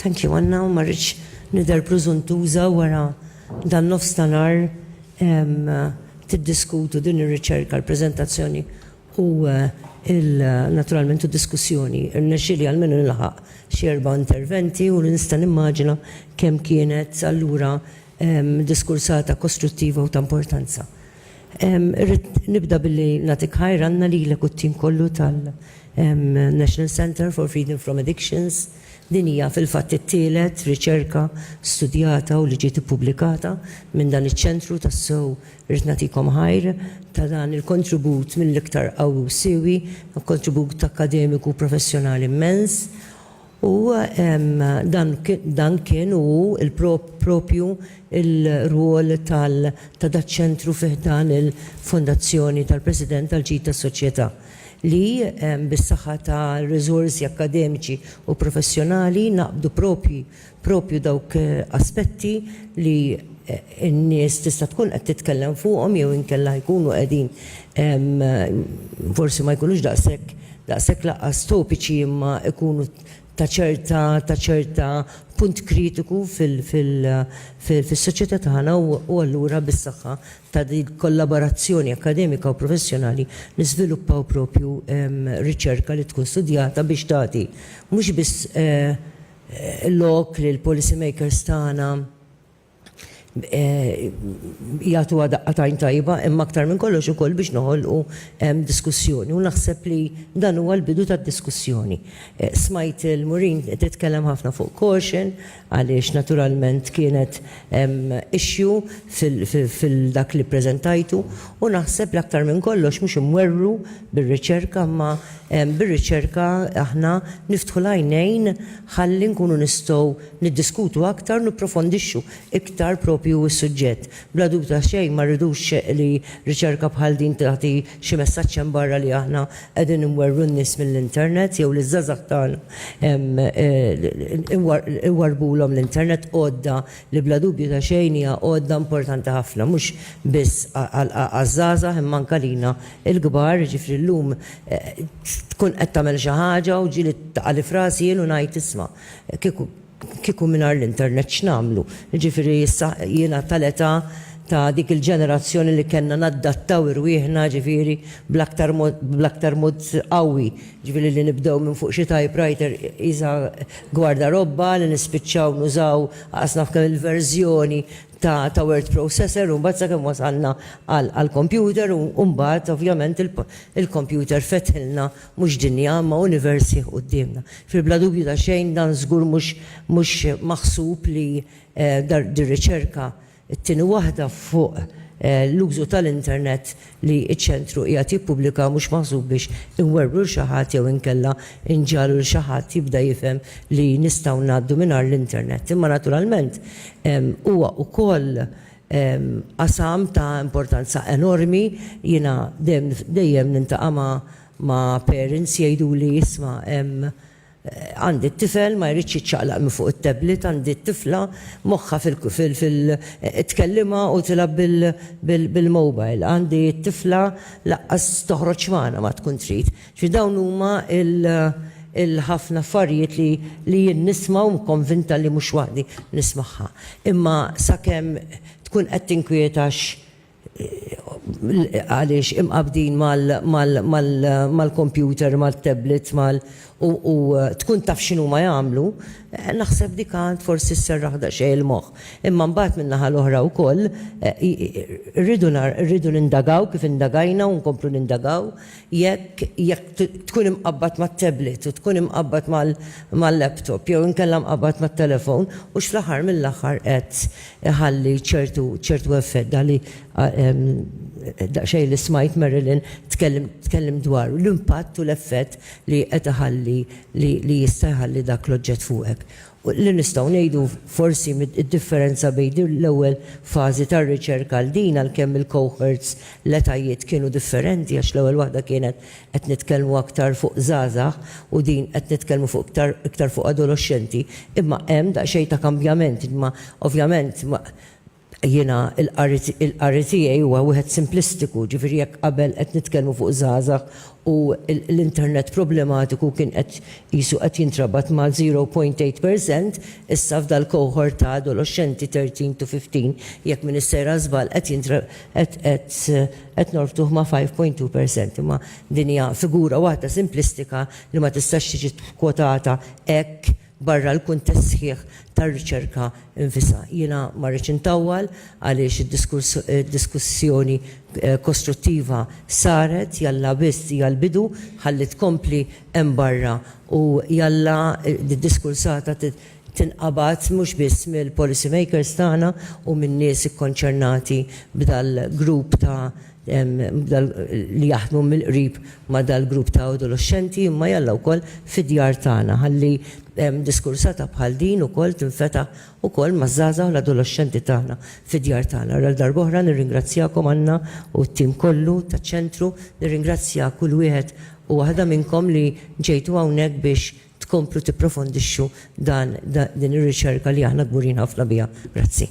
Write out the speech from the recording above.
Thank you, Anna, u marriċ nider pruzuntuza wara dan nofs tanar tiddiskutu din ir-riċerka, l-prezentazzjoni u naturalment u diskussjoni. Irnexili għal-menu nilħaq xierba interventi u nista nimmaġina kem kienet allura diskursata kostruttiva u ta' importanza. Irrid nibda billi nagħtik ħajranna lilek u t-tim kollu tal-National Centre for Freedom from Addictions. Din hija fil-fatt it-tielet riċerka studjata u li ġiet ippubblikata minn dan iċ-ċentru u tassew irrid nagħtikom ħajr ta' dan il-kontribut mill-iktar qawwi u siewi, kontribut akkademiku u professjonali mmens. U dan kien u hu proprju r-rwol ta' daċ-ċentru fi ħdan il-Fondazzjoni tal-President għall-Ġid tas-Soċjetà, li bis-saħħa ta' riżorsi akkademiċi u professjonali naqbdu proprju dawk aspetti li n-nies tista' tkun qed titkellem fuqhom jew inkella jkunu qegħdin forsi ma jkunux daqshekk daqshekk lanqas topiċi imma jkunu ta' ċerta ta' ċerta punt kritiku fil fil fis-soċjetà tagħna u u allura bis-saħħa ta' dil-kollaborazzjoni akkademika u professjonali niżviluppaw proprju riċerka li tkun studjata biex tagħti mhux biss lok lill-policy makers tagħna jagħtuha daqqa t'għajn tajba imma aktar minn kollox ukoll biex noħolqu diskussjoni u naħseb li dan huwa l-bidu ta' diskussjoni. Smajt il-Murin titkellem ħafna fuq caution għaliex naturalment kienet issue fil-dak li ppreżentajtu u naħseb li aktar minn kollox mhux imwerwru bir-riċerka imma bir-riċerka aħna niftħu l-għajnejn ħalli nkunu nistgħu niddiskutu aktar u nipprofondixxu iktar proprju s-suġġett. Bla dubju ta' xejn ma rridux li riċerka bħal din tagħti xi messaġġ hemm barra li aħna qegħdin inwerwru n-nies mill-internet jew li ż-żgħażagħ tagħna iwarrbulhom l-internet, għodda li bla dubju ta' xejn hija għodda importanti ħafna mhux biss għaż-żgħażagħ imma anke għalina l-kbar, jiġifieri llum tkun qed tagħmel xi ħaġa u ġieli taqa' li f'rasi jien u ngħid isma', Kieku kieku mingħajr l-internet x'nagħmlu? Jiġifieri issa jiena tal-età ta' dik il-ġenerazzjoni li kellna naddattaw irwieħna jiġifieri bl-aktar mod bl-aktar mod qawwi, jiġifieri li nibdew minn fuq xi typewriter qisha gwardarobba li nispiċċaw nużaw qas naf kemm il-verżjoni ta' ta' word processor u mbagħad sakemm wasalna għall-computer u mbagħad ovvjament il-computer fetħilna Mhux dinja, imma univers sħiħ quddiemna. Fil bla dubju ta' xejn dan żgur mhux mhux maħsub li dar dir-riċerka t-tieni waħda fuq l-użu tal-internet li ċ-ċentru qiegħed jippubblika mhux maħsub biex inwerwru 'l xi ħadd jew inkella nġagħlu 'l xi ħadd jibda jifhem li nistgħu ngħaddu mingħajr l-internet. Imma naturalment huwa wkoll qasam ta' importanza enormi. Jiena dejjem dejjem nintaqa' ma' ma' parents jgħiduli isma' hemm għandi t-tifel ma jridx jiċċaqlaq minn fuq it-tablet, għandi t-tifla moħħha fil fil fil tkellimha u tilgħab bil bil bil-mobile, għandi t-tifla laqqas toħroġ magħna ma tkun trid. Xi dawn huma l-ħafna affarijiet li jien nisma' u konvinta li mhux waħdi nismagħha. Imma sakemm tkun qed tinkwieta għaliex imqabbdin mal-kompjuter, mat-tablets, mal u tkun taf x'inhuma jagħmlu, naħseb dik għad forsi sserraħ daqsxejn il-moħħ. Imma mbagħad min-naħa l-oħra wkoll rridu rridu nindagaw kif indagajna u nkomplu nindagaw, Jekk, jekk tkun imqabbad mat-tablet u tkun imqabbad mal, mal-laptop jew inkella mqabbad mat-telefon, hux fl-aħħar mill-aħħar qed iħalli ċertu, ċertu effett, dak li daqsxejn li smajt Marilyn tkellem, tkellem dwaru, l-impatt u l-effett li qed iħalli, li, li jista' jħalli dak l-oġġett fuqek. Li nistgħu ngħidu forsi d-differenza bejn din l-ewwel fażi tar-riċerka għal din għalkemm il-cohorts, l-etajiet kienu differenti għax l-ewwel waħda kienet qed nitkellmu aktar fuq żgħażagħ u din qed nitkellmu fuq iktar iktar fuq adoloxxenti imma hemm daqsxejn ta' kambjament imma ovvjament Jiena l-qari tiegħi huwa wieħed simplistiku, ġifieri jekk qabel qed nitkellmu fuq żgħażagħ u l-internet problematiku kien qed qisu qed jintrabat ma' zero point eight per cent, issa f'dal-cohort ta' adoloxxenti thirteen to fifteen, jekk m'iniex sejra żball qed qed norbtuh ma' five point two per cent. Imma din hija figura waħda simplistika li ma tistax tiġi kkwotata hekk barra l-kuntest sħiħ tar-riċerka nfisha. Jiena ma rridx intawwal għaliex id-diskussjoni kostruttiva saret, jalla biss hija l-bidu, ħalli tkompli hemm barra u jalla d-diskursata tinqabad mhux biss mill-policy makers tagħna u min-nies ikkonċernati b'dal-grupp ta' li jaħdmu mill-qrib ma' dal-grupp ta' adoloxxenti imma jalla wkoll fid-djar tagħna ħalli diskursata bħal din ukoll tinfetaħ ukoll maż-żgħażagħ u l-adoloxxenti tagħna fid-djar tagħna. Għal darb'oħra nirringrazzjakom Anna u t-tim kollu taċ-Ċentru, nirringrazzja kull wieħed u waħda minnkom li ġejtu hawnhekk biex tkomplu tipprofondixxu dan din ir-riċerka li aħna kburin ħafna biha. Grazzi.